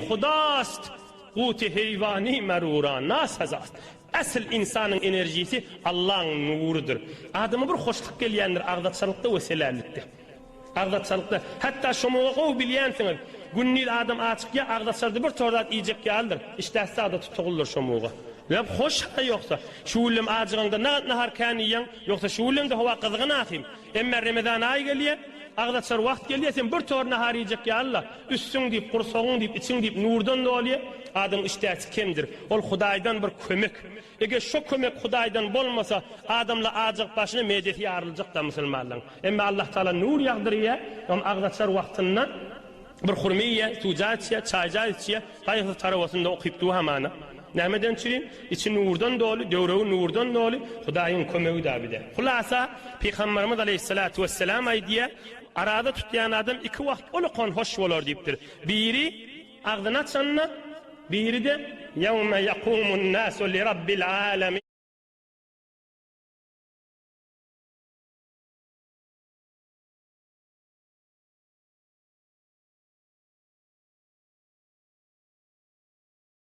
Hudast, guty heýwany merura nasazat. Äsl ynsanyň enerjisi Allaň nurudyr. Adama bir hoşluk gelýändir agzaçalykda we selällikde. Agzaçalykda, hatda şomaga gowy bilýänsiňiz, gündiz adam açykýa agzaçarda bir tor zat iýjek ýalydyr, işdäsi zada tutugyldyr şomaga. Ýok, hoş-ha ýoksa. Şu günem ajygaňda nagat nahar kän iýýäň, ýoksa şu günem-de howa gyzgyn ahym. Emme Remezan aýy gelýä, agzaçar wagt gelýä, sen bir tor nahar iýjek ýalyla, üstüň diýip, gursagyň diýip, içiň diýip nurdan dolýa. Adamyň işdäsi kemdir. Ol Hudaýdan bir kömek. Eger şo kömek Hudaýdan bolmasa, adamla ajygyp başyna medesi ýaryljak-da musulmanlaň. Emme Allah Taala nur ýagdyrýa, ol agzaçar wagtynda bir hurma iýýä, suwja içýä, çaýja içýä, gaýgysyz tarowasynda okyp duw hamana. Nämeden çyn? Içi nurdan doly, döwregi nurdan doly, Hudaýyň kömegi-dä bide. Hulasa, Pygambarymyz aleýhissalatu wessalam aýdýar, Araza tutýan adam iki wagt ol okan hoş bolar diýipdir. Biri, agzyny açanda, biri-de, Ýewme ýakumun nasu li Rabbil alemin.